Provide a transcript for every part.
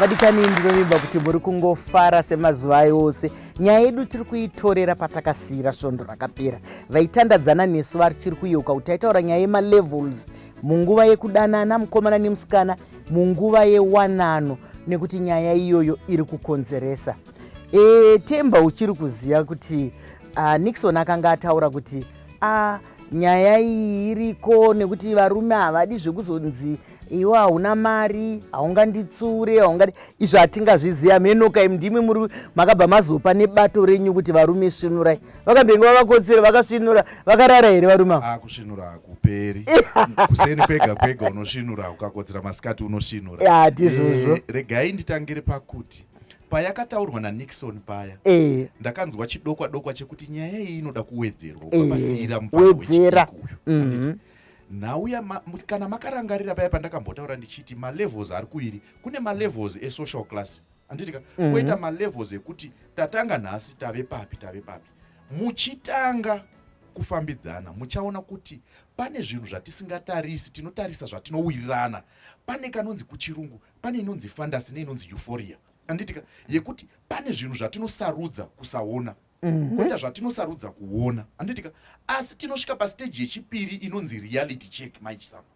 vadikani ndinovimba kuti muri kungofara semazuva ayo ose nyaya yedu tiri kuitorera patakasiyira svondo rakapera vaitandadzana nesu vachiri kuyeuka kuti taitaura nyaya yemalevels munguva yekudanana mukomana nemusikana munguva yewanano nekuti nyaya iyoyo iri kukonzeresa e, temba uchiri kuziva kuti uh, nixon akanga ataura kuti uh, nyaya iyi iriko nekuti varume havadi zvekuzonzi iwe hauna mari haunganditsure haungadi izvo hatingazviziva mhenoka im ndimi muri makabva mazopa nebato renyu kuti varume svinurai vakambenge vavakotsera vakasvinura vakarara here varume ava ah, kusvinura hakuperi kuseni kwega kwega unosvinura ukakotsera masikati unosvinura hatizvozvo eh, regai nditangire pakuti payakataurwa nanixon paya eh. ndakanzwa chidokwa dokwa chekuti nyaya iyi inoda kuwedzerwa eh. ukapasiyira mupawedzera mhm. nhau kana makarangarira paya pandakambotaura ndichiti malevels ari kuiri kune malevels esocial class handitika mm -hmm. koita malevels ekuti tatanga nhasi tave papi tave papi muchitanga kufambidzana muchaona kuti pane zvinhu zvatisingatarisi tinotarisa zvatinowirirana pane kanonzi kuchirungu pane inonzi fandasi neinonzi euphoria anditika yekuti pane zvinhu zvatinosarudza kusaona mhm. koita zvatinosarudza kuona anditika asi tinosvika pasteji yechipiri inonzi reality check maichsama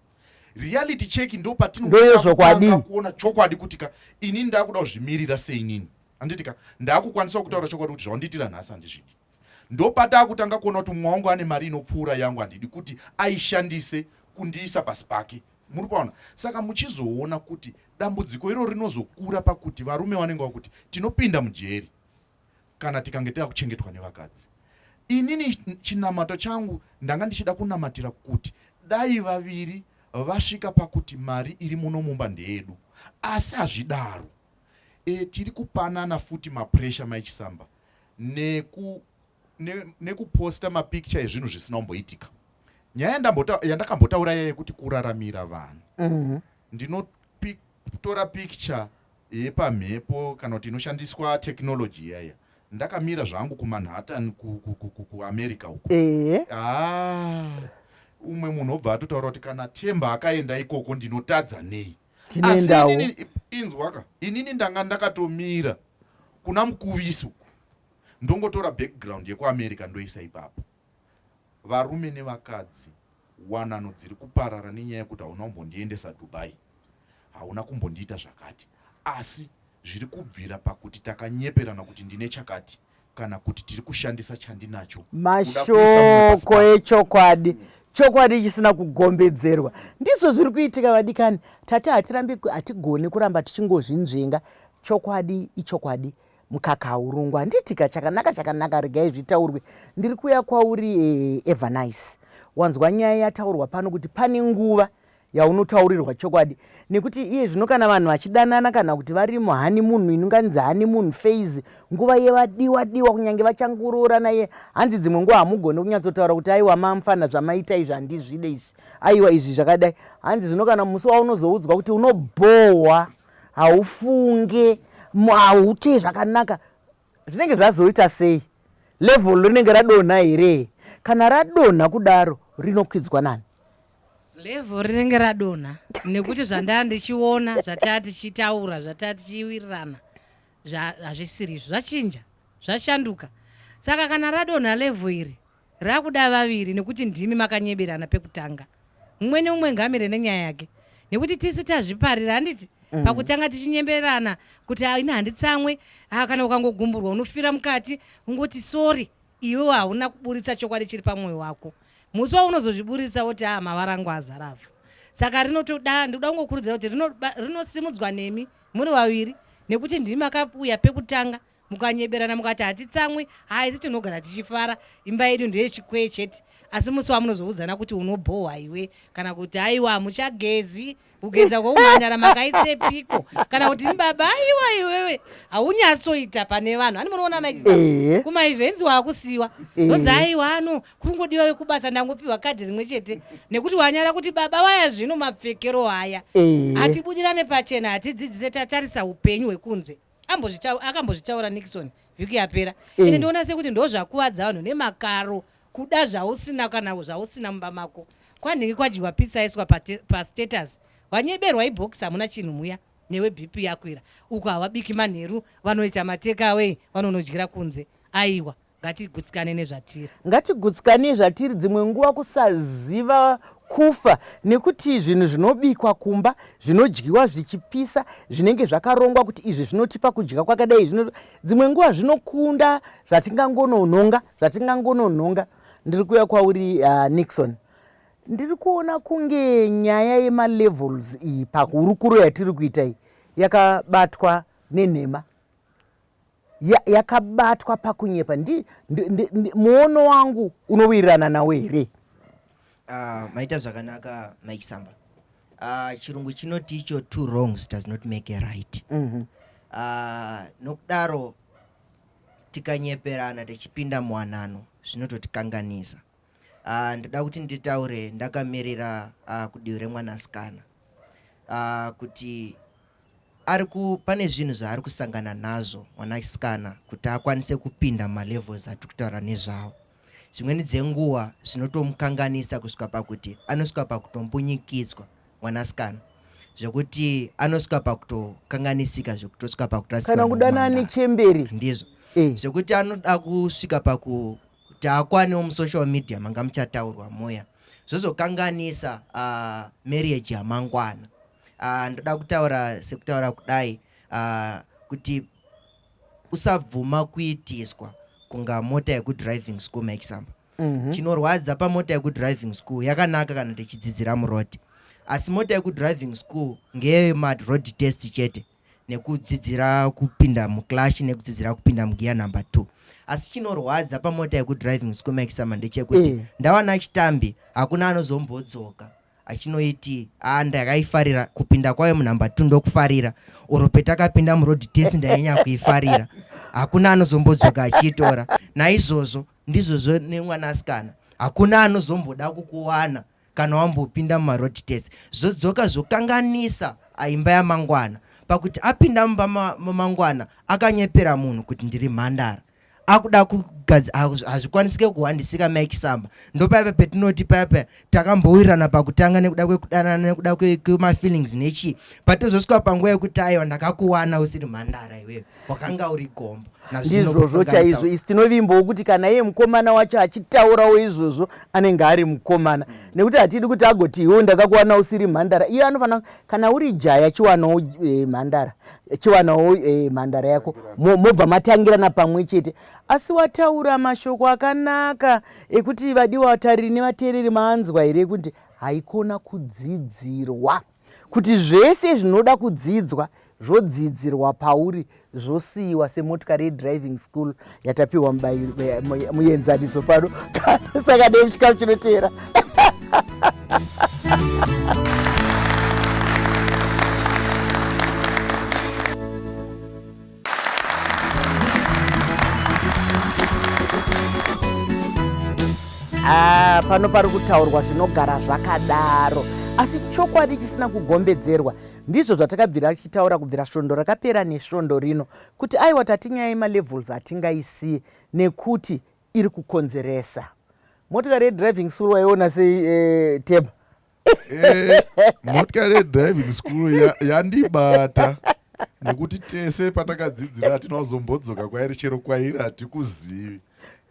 reality check ndo patinondoyezvokwadi kuona chokwadi kuti ka inini ndakuda kuzvimirira seinini handiti ka ndakukwanisa kutaura chokwadi kuti zvawandiitira nhasi handizvidi ndopatakutanga kuona kuti mumwe wangu ane mari inopfuura yangu handidi kuti aishandise kundiisa pasi pake muri paona saka muchizoona kuti dambudziko iro rinozokura pakuti varume vanenge vakuti tinopinda mujeri kana tikange tava kuchengetwa nevakadzi inini chinamato changu ndanga ndichida kunamatira kuti dai vaviri vasvika pakuti mari iri muno mumba ndeyedu asi hazvidaro e, tiri kupanana futi mapresha maichisamba neku nekuposta ne mapikicha ezvinhu zvisina kumboitika nyaya yandakambotaura yaya yekuti kuraramira vanhu mm -hmm. ndino Kutora picture yepamhepo kana kuti inoshandiswa technology iya iya. Ndakamira zvangu kuManhattan ku, ku, ku, ku, kuAmerica uko. Ehe. Ah, umwe munhu obva atotaura kuti kana Themba akaenda ikoko ndinotadza nei. Asi Tinoendawo. inini i- inzwaka inini ndanga ndakatomira kuna Mukuvisi uko. Ndongotora background yekuAmerica ndoisa ipapo. Varume nevakadzi wanano dziri kuparara nenyaya yekuti hauna kumbondiendesa Dubai, hauna kumbondiita zvakati, asi zviri kubvira pakuti takanyeperana kuti ndine chakati kana kuti tiri kushandisa chandinacho. Mashoko echokwadi chokwadi chisina kugombedzerwa ndizvo zviri kuitika vadikani. Tati hatirambi, hatigoni kuramba tichingozvinzvenga. Chokwadi ichokwadi, Mukaka haurungwa handitika chakanaka chakanaka regai zvitaurwe ndiri kuya kwauri eh, Evernice. Wanzwa nyaya yataurwa pano kuti pane nguva yaunotaurirwa chokwadi nekuti iye zvino kana vanhu vachidanana kana kuti vari muhani munhu inonganzi hani munhu faizi nguva yevadiwa diwa kunyange vachangoroorana iye hanzi dzimwe nguva hamugone kunyatsotaura kuti aiwa mamfana zvamaita izvi handizvide izvi aiwa izvi zvakadai hanzi zvino kana musi waunozoudzwa kuti unobhohwa haufunge hauti zvakanaka zvinenge zvazoita sei level rinenge radonha here kana radonha kudaro rinokwidzwa nani level rinenge radonha nekuti zvandaa ndichiona zvataa tichitaura zvataa tichiwirirana hazvisirizvo zvachinja zvashanduka saka kana radonha level iri Rakuda vaviri nekuti ndimi makanyeberana pekutanga. Mumwe neumwe ngamire nenyaya yake nekuti tisu tazviparira handiti mm. pakutanga tichinyemberana kuti ah, ini handitsamwe ah, kana ukangogumburwa unofira mukati ungoti sori iwewo hauna kuburitsa chokwadi chiri pamwoyo wako musi waunozozviburitsa woti a ah, mavara angu azaravhu saka rinotoda ndikuda kungokurudzira kuti rinosimudzwa nemi muri vaviri nekuti ndimi makauya pekutanga mukanyeberana mukati hatitsamwi haisi tinogara tichifara imba yedu ndeyechikwee chete asi musi wamunozoudzana kuti unobhohwa iwe kana kuti aiwa hamuchagezi kugeza kwoumhanyara makaitsepiko kana kuti ndibaba aiwa iwewe haunyatsoita pane vanhu ani munoona maita eh. kumaivhenzi waakusiwa eh. onzi aiwa ano kuri ngodiwa wekubasa ndangopiwa kadhi rimwe chete nekuti wanyara kuti baba waya zvino mapfekero haya eh. hatibudirane pachena hatidzidzise tatarisa upenyu hwekunze Ambozvitaura akambozvitaura Nixon vhiki yapera. Mm. Ende ndoona sekuti ndozvakuvadza vanhu nemakaro kuda zvausina kana zvausina mumba mako. Kwanhingi kwadyiwa pizza yaiswa pa, pa status. Wanyeberwa ibox hamuna chinhu muya newe BP yakwira. Uko hawabiki manheru vanoita mateka away vanonodyira kunze. Aiwa. ngatigutsikane nezvatiri ngatigutsikane nezvatiri dzimwe nguva kusaziva kufa nekuti zvinhu zvinobikwa kumba zvinodyiwa zvichipisa zvinenge zvakarongwa kuti izvi zvinotipa kudya kwakadai zvino dzimwe nguva zvinokunda zvatingangononhonga zvatingangononhonga ndiri kuuya kwauri uh, nixon ndiri kuona kunge nyaya yemalevels iyi pahurukuro yatiri kuita iyi yakabatwa nenhema ya, yakabatwa pakunyepa ndi, ndi, ndi, ndi, muono wangu unowirirana nawo here uh, maita zvakanaka mike samba uh, chirungu chinoti icho two wrongs does not make a right mm -hmm. uh, nokudaro tikanyeperana tichipinda muwanano zvinototikanganisa uh, ndoda kuti nditaure ndakamirira uh, kudivi remwanasikana uh, kuti ari ku pane zvinhu zvaari kusangana nazvo mwanasikana kuti akwanise kupinda malevels atiri kutaura nezvawo dzimweni dzenguva zvinotomukanganisa kusvika pakuti anosvika pakutombunyikidzwa mwanasikana zvekuti anosvika pakutokanganisika zvekutosvika pakutosikana kudana nechemberi ndizvo eh. zvekuti anoda kusvika paku kuti akwanewo musocial media manga muchataurwa muya zvozokanganisa uh, marriage yamangwana uh, ndoda kutaura sekutaura kudai uh, kuti usabvuma kuitiswa kunga mota yekudriving school maexample mm -hmm. chinorwadza pamota yekudriving school yakanaka kana tichidzidzira muroad asi mota yekudriving school ngeyemadroad test chete nekudzidzira kupinda muclash nekudzidzira kupinda mugiya number two asi chinorwadza pamota yekudriving usiku maekisama ndechekuti mm. ndawana chitambi hakuna anozombodzoka achinoiti a ndakaifarira kupinda kwayo munumber two ndokufarira oro petakapinda muroad test ndainyanya kuifarira hakuna anozombodzoka achiitora naizvozvo ndizvozvo nemwanasikana hakuna anozomboda kukuwana kana wambopinda mumaroad test zvodzoka zvokanganisa aimba yamangwana pakuti apinda mumba mamangwana akanyepera munhu kuti ndiri mhandara akuda kugadza hazvikwanisike kuhwandisika mike samba ndopaipa petinoti paipa takambowirirana pakutanga nekuda kwekudanana nekuda kwemafeelings nechii but tozosvika panguva yekuti aiwa ndakakuwana usiri mhandara iwewe wakanga uri gombo ndizvozvo chaizvo isi tinovimbawo kuti kana iye mukomana wacho achitaurawo izvozvo anenge ari mukomana mm. nekuti hatidi kuti agoti iwo ndakakuwana usiri mhandara iyo anofanira kana uri jaya chiwanawo eh, mhandara chiwanawo eh, mhandara yako mobva matangirana pamwe chete asi wataura mashoko akanaka ekuti vadiwa vatariri nevateereri maanzwa here kuti haikona kudzidzirwa Kuti zvese zvinoda kudzidzwa zvodzidzirwa pauri zvosiyiwa semotikari yedriving school yatapiwa muenzaniso pano katisaka dei muchikamu chinoteera Ah, pano pari kutaurwa zvinogara zvakadaro asi chokwadi chisina kugombedzerwa ndizvo zvatakabvira tichitaura kubvira svondo rakapera nesvondo rino kuti aiwa tatinyaya yemalevels atingaisiye nekuti iri kukonzeresa motikari yedriving school waiona sei eh, tema Eh, motikari yedriving school ya- yandibata nekuti tese patakadzidzira hatina kuzombodzoka kwairi chero kwairi hatikuzivi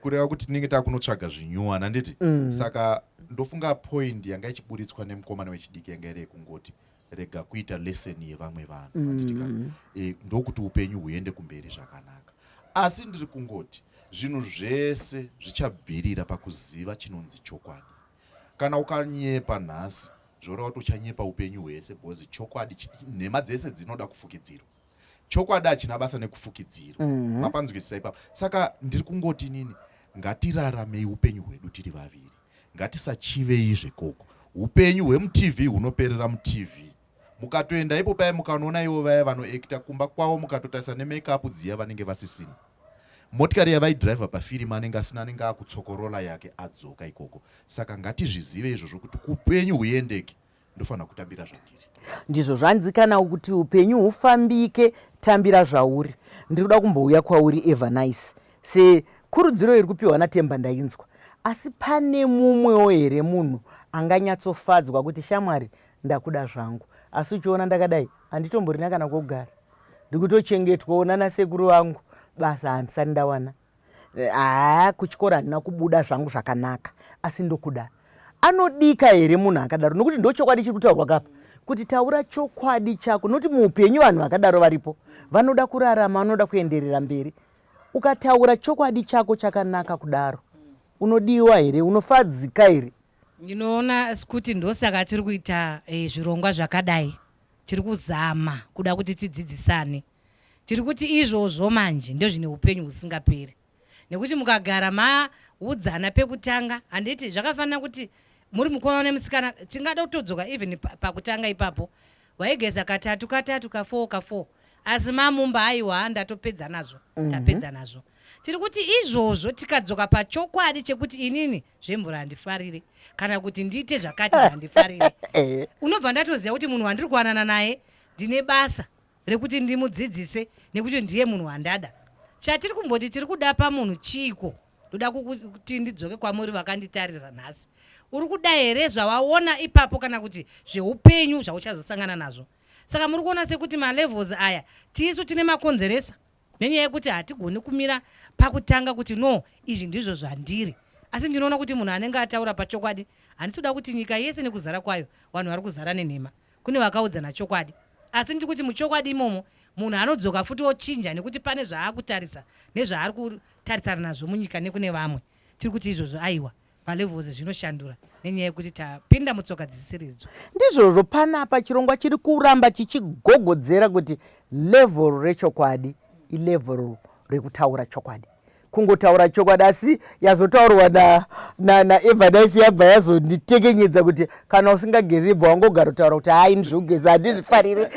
kureva kuti tinenge takunotsvaga zvinyuwana handiti Mm. saka ndofunga point yanga ichiburitswa nemukomana wechidiki yanga iri yekungoti rega kuita lesson yevamwe vanhu handiti ka? Mm. Eh, ndokuti upenyu huende kumberi zvakanaka asi ndiri kungoti zvinhu zvese zvichabvirira pakuziva chinonzi chokwadi Kana ukanyepa nhasi zvoreva kuti uchanyepa upenyu hwese because chokwadi nhema dzese dzinoda kufukidzirwa chokwadi hachina basa nekufukidzirwa mhm. mapanzwisisa ipapo saka ndiri kungoti inini ngatiraramei upenyu hwedu tiri vaviri ngatisachivei zvekoko upenyu hwemutv hunoperera mutv mukatoenda ipo paya mukanoona ivo vaya vanoekita kumba kwavo mukatotarisa nemekapu dziya vanenge vasisina motikari yavaidriver pafirimu anenge asina anenge akutsokorola yake adzoka ikoko saka ngatizvizive izvozvo kuti kupenyu huyendeke ndofanira kutambira zvandiri ndizvo zvanzi kana kuti upenyu hufambike tambira zvauri ndiri kuda kumbouya kwauri evanice sekurudziro iri kupiwa natemba ndainzwa asi pane mumwewo here munhu anganyatsofadzwa kuti shamwari ndakuda zvangu asi uchiona ndakadai handitomborina kana kogara ndikutochengetwawo nana sekuru vangu basa handisati ndawana haa eh, kuchikoro handina kubuda zvangu zvakanaka asi ndokuda anodika here munhu akadaro nokuti ndochokwadi chiri kutaurwa kapa kuti taura chokwadi chako noti muupenyu vanhu vakadaro varipo vanoda kurarama vanoda kuenderera mberi ukataura chokwadi chako chakanaka kudaro unodiwa here unofadzika here Ndinoona sekuti ndosaka tiri kuita eh, zvirongwa zvakadai tiri kuzama kuda kuti tidzidzisane tiri kuti izvozvo manje ndozvine upenyu husingaperi nekuti mukagara maudzana pekutanga handiti zvakafanira kuti muri mukomana nemusikana tingada kutodzoka even pakutanga ipapo waigeza katatu katatu kafoo kafoo asi mamumba haiwa ndatopedza nazvo mhm. ndapedza nazvo tiri kuti izvozvo tikadzoka pachokwadi chekuti inini zvemvura handifarire kana kuti ndiite zvakati zvandifarire eh. unobva ndatoziva kuti munhu wandiri kuwanana naye ndine basa rekuti ndimudzidzise nekuti ndiye munhu wandada chatiri kumboti tiri kuda pamunhu chiiko ndoda kuti ndidzoke kwamuri vakanditarira nhasi uri kuda here zvawaona ipapo kana kuti zveupenyu zvauchazosangana nazvo saka muri kuona sekuti malevels aya tisu tine makonzeresa Nenyaya yekuti hatigoni kumira pakutanga kuti no izvi ndizvo zvandiri asi ndinoona kuti munhu anenge ataura pachokwadi handisi kuda kuti nyika yese nekuzara kwayo vanhu vari kuzara nenhema kune vakaudzana chokwadi asi ndiri kuti muchokwadi imomo munhu anodzoka futi ochinja nekuti pane zvaakutarisa nezvaari kutarisana nazvo munyika nekune vamwe tiri kuti izvozvo aiwa palevels zvinoshandura nenyaya yekuti tapinda mutsoka dzisiridzo ndizvozvo panapa chirongwa chiri kuramba chichigogodzera kuti level rechokwadi ilevel rekutaura chokwadi kungotaura chokwadi asi yazotaurwa naevadise na, na yabva yazonditekenyedza kuti kana usingagezi ibva wangogara kutaura kuti haa ini zvekugeza handizvifarire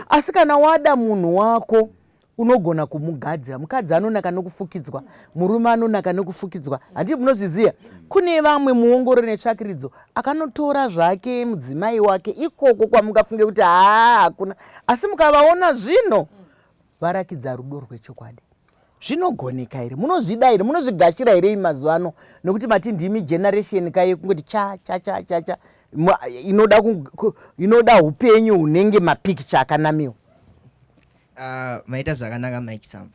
asi kana wada munhu wako unogona kumugadzira mukadzi anonaka nokufukidzwa murume anonaka nokufukidzwa handi munozviziva kune vamwe muongoro netsvakiridzo akanotora zvake mudzimai wake ikoko kwamungafunge kuti haa hakuna asi mukavaona zvino varakidza rudo rwechokwadi zvinogoneka here munozvida here munozvigashira here imi mazuva ano nokuti mati ndimi generation kaye kungoti cha cha cha cha cha inoda upenyu hunenge mapikicha akanamiwa Uh, maita zvakanaka mike samba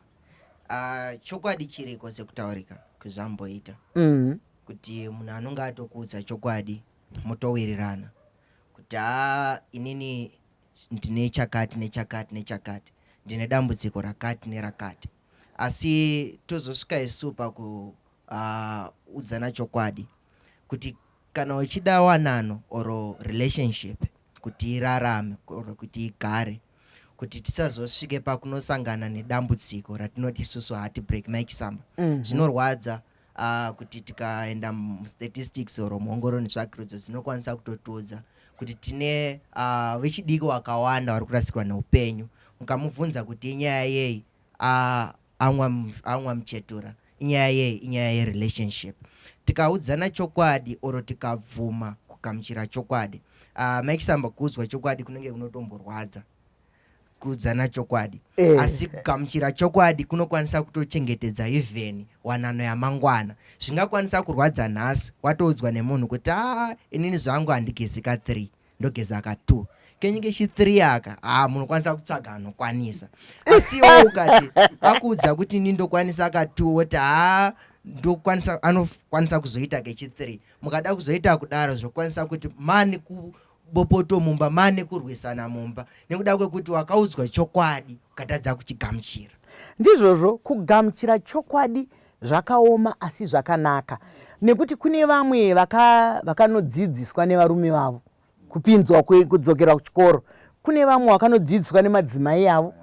uh, chokwadi chiriko sekutaurika kwezvamboita mm -hmm. kuti munhu anonge atokuudza chokwadi motowirirana kuti haa inini ndine chakati nechakati nechakati ndine dambudziko rakati nerakati asi tozosvika isu pakuudzana uh, chokwadi kuti kana uchida wanano or relationship kuti irarame or kuti igare kuti tisazosvike pakunosangana nedambudziko ratinoti isusu hati break mai chisamba mhm. zvinorwadza mm -hmm uh, kuti tikaenda mustatistics or muongoro netsvakirudzo dzinokwanisa kutotiudza kuti tine uh, vechidiki wakawanda vari kurasikirwa neupenyu mukamubvunza kuti inyaya yei uh, aunwa muchetura inyaya yei inyaya yerelationship tikaudzana chokwadi oro tikabvuma kugamuchira chokwadi uh, mike samba kuudzwa chokwadi kunenge kunotomborwadza kuudzana chokwadi eh. asi kugamuchira chokwadi kunokwanisa kutochengetedza even wanano yamangwana zvingakwanisa kurwadza nhasi watoudzwa nemunhu kuti a ah, inini zvangu handigezika three ndogeza ka two kenyinge chithree aka haa munokwanisa kutsvaga anokwanisa asiwo ukati akuudza kuti ini ndokwanisa ka two woti haa ndokwanisa anokwanisa kuzoita kechithree mukada kuzoita kudaro zvokwanisa kuti mani ku bopoto mumba mane kurwisana mumba nekuda kwekuti wakaudzwa chokwadi ukatadza kuchigamuchira ndizvozvo kugamuchira chokwadi Zvakaoma asi zvakanaka nekuti kune vamwe vakanodzidziswa nevarume vavo kupinzwa kudzokera kuchikoro, kune vamwe vakanodzidziswa nemadzimai avo,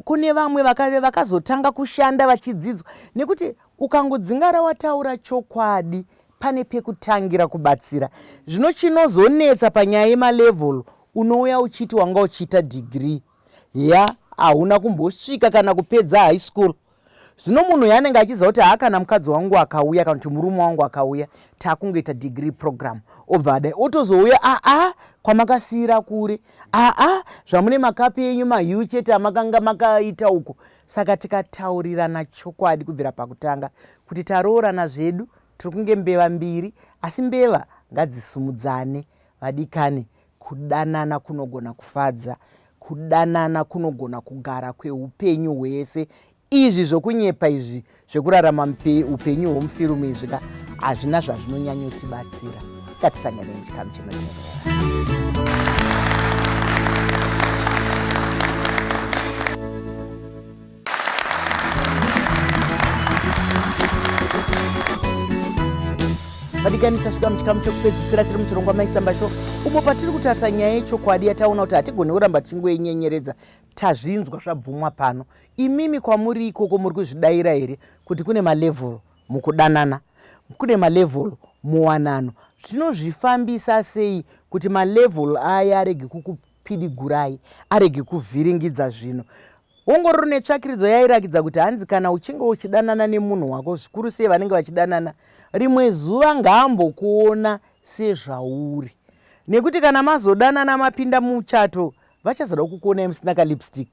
kune vamwe vakazotanga kushanda vachidzidzwa nekuti ukangodzingara wataura chokwadi pane pekutangira kubatsira. Zvino chinozonetsa panyaya yemalevel unouya uchiti wanga uchiita degree ya hauna kumbosvika kana kupedza high school zvino munhu yanenge achiziva kuti haa kana mukadzi wangu akauya kana kuti murume wangu akauya takungoita degree program obva adai otozouya aa ah, ah, kwamakasiira kure aa ah, zvamune makapi enyu mahiu chete amakanga makaita uko saka tikataurirana chokwadi kubvira pakutanga kuti taroorana zvedu tiri kunge mbeva mbiri asi mbeva ngadzisumudzane vadikani Kudanana kunogona kufadza. Kudanana kunogona kugara kweupenyu hwese. Izvi zvokunyepa izvi zvekurarama upenyu hwomufirumu izvi ka hazvina zvazvinonyanyotibatsira. Ngatisangane muchikamu chinoteerera. vadikani tasvika muchikamu chekupedzisira tiri muchirongwa maisamba sho umo patiri kutarisa nyaya yechokwadi yataona kuti hatigoni kuramba tichingoinyenyeredza tazvinzwa zvabvumwa pano imimi kwamuri ikoko muri kuzvidaira here kuti kune malevhel mukudanana kune malevhel muwanano zvinozvifambisa sei kuti malevhel aya arege Pidigurai arege kuvhiringidza zvino. Ongororo netsvakiridzo yairakidza kuti hanzi kana uchinge uchidanana nemunhu wako, zvikuru sei vanenge vachidanana, rimwe zuva ngaambokuona sezvauri. Nekuti kana mazodanana mapinda muchato, vachazoda kukuonai musina kalipstick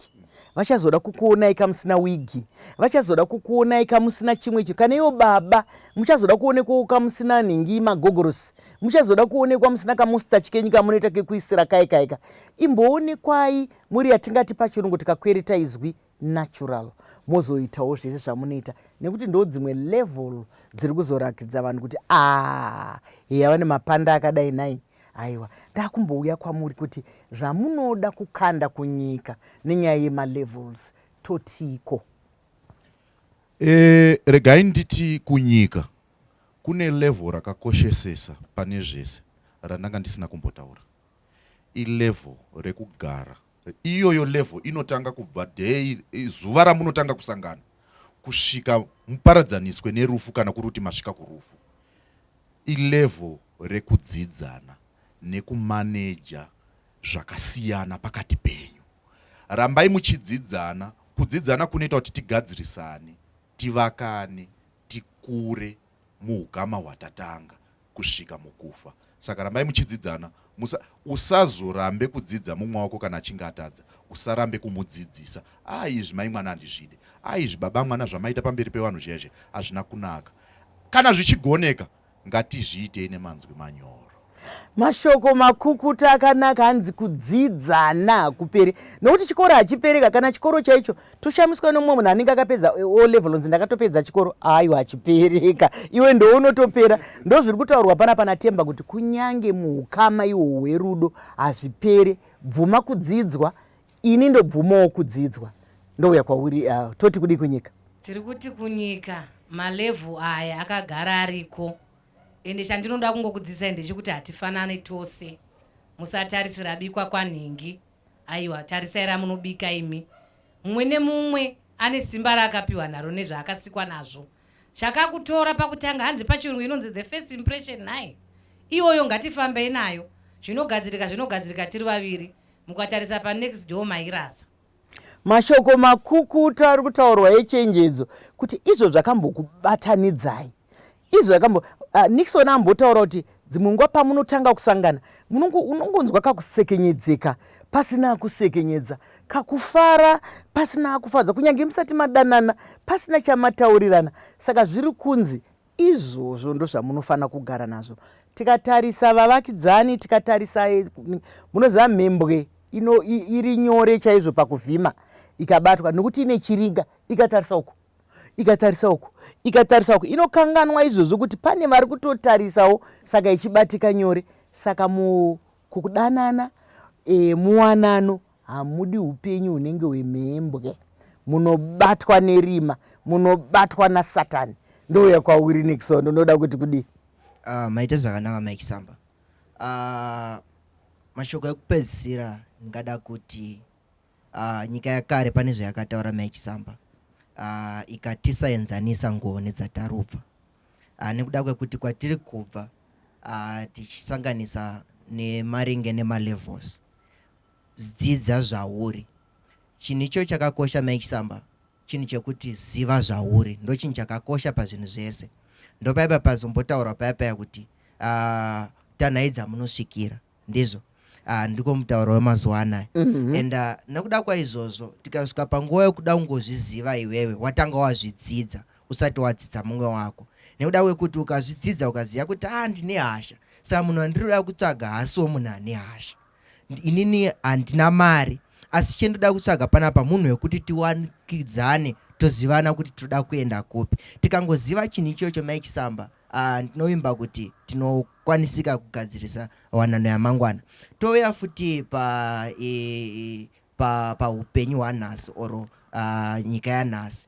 vachazoda kukuonai kamusina wigi vachazoda kukuonai kamusina chimwe chinhu kana iwo baba muchazoda kuonekwawo kamusina nhingi magogorosi muchazoda kuonekwa musina kamustachi kenyu kamunoita kekuisira kaye kaika imboonekwai muri yatingati pachirungu tikakwereta izwi natural mozoitawo zvese zvamunoita nekuti ndo dzimwe level dziri kuzorakidza vanhu kuti aa heya vane mapanda akadai nai aiwa ndakumbouya kwamuri kuti zvamunoda kukanda kunyika nenyaya yemalevels totiiko e, regai nditi kunyika Kune level rakakoshesesa pane zvese randanga ndisina kumbotaura. I level rekugara. Iyoyo level inotanga kubva day zuva ramunotanga kusangana kusvika muparadzaniswe nerufu kana kuri kuti masvika kurufu. I level rekudzidzana nekumaneja zvakasiyana pakati penyu. Rambai muchidzidzana, kudzidzana kunoita kuti tigadzirisane, tivakane, tikure muukama hwatatanga kusvika mukufa saka rambai muchidzidzana musa usazorambe kudzidza mumwe wako kana achinge atadza usarambe kumudzidzisa aa ah, izvi mai mwana handizvide aa ah, izvi baba mwana zvamaita pamberi pevanhu zviya izvi hazvina kunaka kana zvichigoneka Ngatizviitei nemanzwi manyoro. Mashoko makukuta akanaka hanzi kudzidza hana hakuperi nokuti chikoro hachipereka kana chikoro chaicho toshamiswa nomumwe munhu anenge akapedza o level onzi ndakatopedza chikoro aiwa hachipereka iwe ndounotopera ndozviri kutaurwa pana pana temba kuti kunyange muukama ihwo hwerudo hazvipere bvuma kudzidzwa Ini ndobvumawo kudzidzwa ndouya kwauri uh, toti kudii kunyika? Tiri kuti kunyika malevel aya akagara ariko ende chandinoda kungokudzidzisai ndechekuti hatifanane tose. Musatarisira bikwa kwanhingi, aiwa tarisai ramunobika imi. Mumwe nemumwe ane simba raakapiwa naro nezvaakasikwa nazvo. chakakutora pakutanga hanzi pachirungu inonzi the first impression nhai iyoyo ngatifambei nayo zvinogadzirika zvinogadzirika tiri vaviri mukatarisa panext door mairasa mashoko makukuta ari kutaurwa echenjedzo kuti izvo zvakambokubatanidzai izvo zvakambo uh, nixon ambotaura kuti Dzimwe nguva pamunotanga kusangana unongonzwa kakusekenyedzeka pasina akusekenyedza, kakufara pasina akufadza, kunyange musati madanana pasina chamataurirana. Saka zviri kunzi izvozvo ndozvamunofanira kugara nazvo. Tikatarisa vavakidzani, tikatarisa eh, munoziva mhembwe ino iri nyore chaizvo pakuvhima ikabatwa nokuti ine chiringa ikatarisa uku ikatarisa uku ikatarisa uku inokanganwa izvozvo kuti pane vari kutotarisawo saka ichibatika nyore saka mukudanana e, muwanano hamudi upenyu hunenge hwemhembwe munobatwa nerima munobatwa nasatani ndouya kwauri nixon unoda kuti kudii uh, maita zvakanaka mike samba uh, mashoko ekupedzisira ndingada kuti Uh, nyika yakare pane zvayakataura mai Chisamba uh, ikatisaenzanisa nguvo nedzatarubva uh, nekuda kwekuti kwatiri kubva uh, tichisanganisa nemaringe nemalevels dzidza zvauri chinhu icho chakakosha mai Chisamba chinhu chekuti ziva zvauri ndo chinhu chakakosha pazvinhu zvese ndopaipa pazombotaura paya paya kuti uh, tanhaidza munosvikira ndizvo uh, ndiko mutauro wemazuva anaya mm -hmm. and uh, nekuda kwaizvozvo tikasvika panguva yokuda kungozviziva iwewe watanga wazvidzidza usati wadzidza mumwe wako nekuda kwekuti ukazvidzidza ukaziva kuti a ah, ndine hasha saka munhu andiri kuda kutsvaga hasiwo munhu ane hasha inini handina mari asi chendoda kutsvaga panapa munhu wekuti tiwanikidzane tozivana kuti tinoda kuenda kupi tikangoziva chinhu ichocho maichisamba Ah, ndinovimba kuti tinokwanisika kugadzirisa wanano yamangwana touya futi pa e, pa paupenyu hwanhasi or uh, nyika yanhasi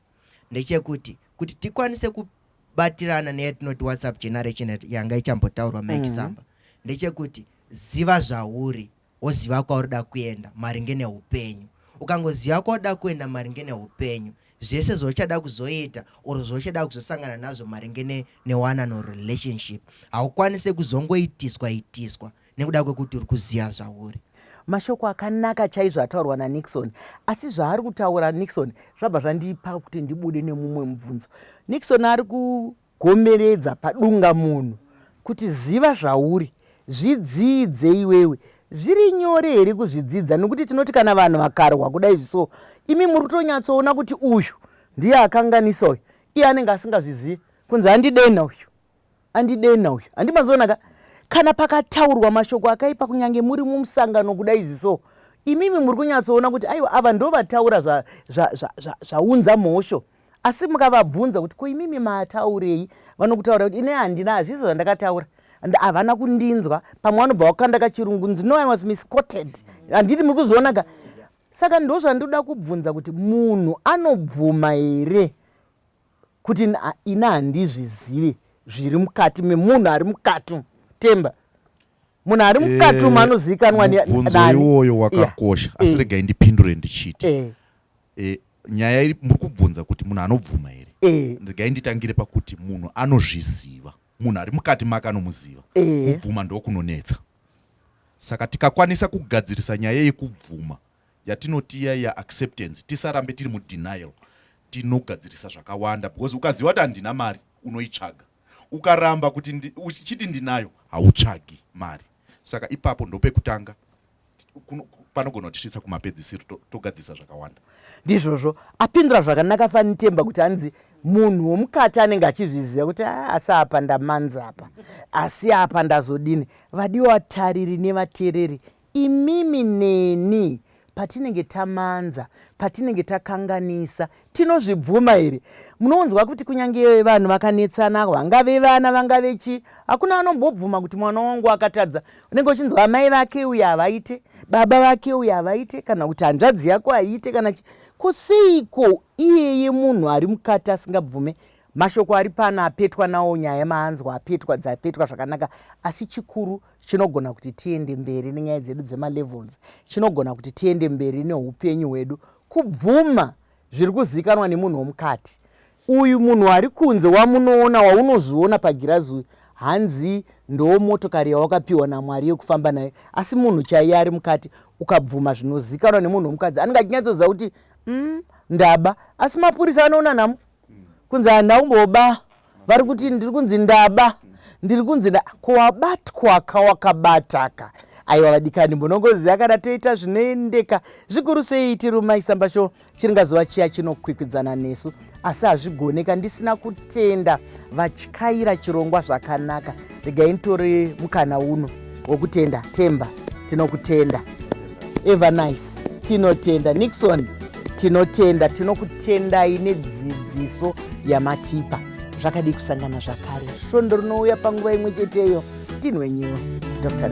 ndechekuti kuti tikwanise kubatirana neyatinoti whatsapp generation yanga ichambotaurwa maekisamba mm -hmm. ndechekuti ziva zvauri woziva kwauri da kuenda maringe neupenyu ukangoziva kwauri da kuenda maringe neupenyu zvese zvauchada kuzoita or zvauchada kuzosangana nazvo maringe ne, newanano or relationship haukwanise kuzongoitiswa itiswa nekuda kwekuti uri kuziva zvauri mashoko akanaka chaizvo ataurwa nanixon asi zvaari kutaura nixon zvabva zvandipa kuti ndibude nemumwe mubvunzo nixon ari ku Gomeredza padungamunhu kuti ziva zvauri, zvidzidze iwewe. Zviri nyore here kuzvidzidza nokuti tinoti kana vanhu vakarwa kuda izvi so imi muri kutonyatsoona kuti uyu ndiye akanganisa uyu iye anenge asingazvizivi kunzi andidenha uyu andidenha uyu handimazoona ka kana pakataurwa mashoko akaipa kunyange muri mumusangano kuda izvi so imimi muri kunyatsoona kuti aiwa ava ndovataura zvaunza mhosho za, za, za, za, za, za, za, za, za, za, za, asi mukavabvunza kuti ko imimi maataurei vanokutaura kuti ine handina hazvizo zvandakataura and havana kundinzwa pamwe vanobva vakukanda kachirungu nzi no i was miscoted handiti muri kuzviona ka saka ndo zvandoda kubvunza kuti munhu anobvuma here kuti ini handizvizive zviri mukati memunhu ari mukati temba munhu ari mukati umu eh, anozivikanwa nani iwoyo wakakosha asi regai ndipindure ndichiti eh. e, nyaya iri muri kubvunza kuti munhu anobvuma here e. regai nditangire pakuti munhu anozviziva munhu ari mukati make anomuziva e. kubvuma ndokunonetsa saka tikakwanisa kugadzirisa nyaya yekubvuma yatinoti iya yaacceptance tisarambe tiri mudenial tinogadzirisa zvakawanda because ukaziva kuti handina mari unoitsvaga ukaramba kuti uchiti ndinayo hautsvagi mari saka ipapo ndopekutanga panogona kutisvitsa kumapedzisiro togadzisa zvakawanda ndizvozvo apindura zvakanaka fanitemba kuti anzi munhu womukati anenge achizviziva kuti ah, asi apa ndamanzi apa asi apa ndazodini vadiwa tariri nevatereri imimi neni patinenge tamanza patinenge takanganisa tinozvibvuma here munonzwa kuti kunyange vanhu vakanetsana vangave vana vangave chii hakuna vanombobvuma kuti mwana wangu akatadza unenge uchinzwa amai vake uye havaite baba vake uye havaite kana kuti hanzvadzi yako haiite kana chi kuseiko iyeye munhu ari mukati asingabvume mashoko ari pano apetwa nawo nyaya maanzwa apetwa dzapetwa zvakanaka asi chikuru chinogona kuti tiende mberi nenyaya dzedu dzemalevels chinogona kuti tiende mberi neupenyu hwedu kubvuma zviri kuzivikanwa nemunhu womukati uyu munhu ari kunze wamunoona waunozviona pagirazi uyu hanzi ndoo motokari yawakapiwa namwari yekufamba nayo asi munhu chaiye ari mukati ukabvuma zvinozikanwa nemunhu womukadzi anenge achinyatsoziva kuti mm, ndaba asi mapurisa anoona namo kunzi handina kumboba vari kuti ndiri kunzi ndaba ndiri kunzi ko wabatwaka wakabataka aiwa vadikani mbonongoziva kana toita zvinoendeka zvikuru sei tirumaisamba sho chiringazuva chiya chinokwikwidzana nesu asi hazvigoneka ndisina kutenda vatyaira chirongwa zvakanaka regai nitore mukana uno wokutenda temba tinokutenda evernice tinotenda nixon tinotenda tinokutendai nedzidziso yamatipa zvakadii kusangana zvakare svondo rinouya panguva imwe cheteyo tinwenyiwa dr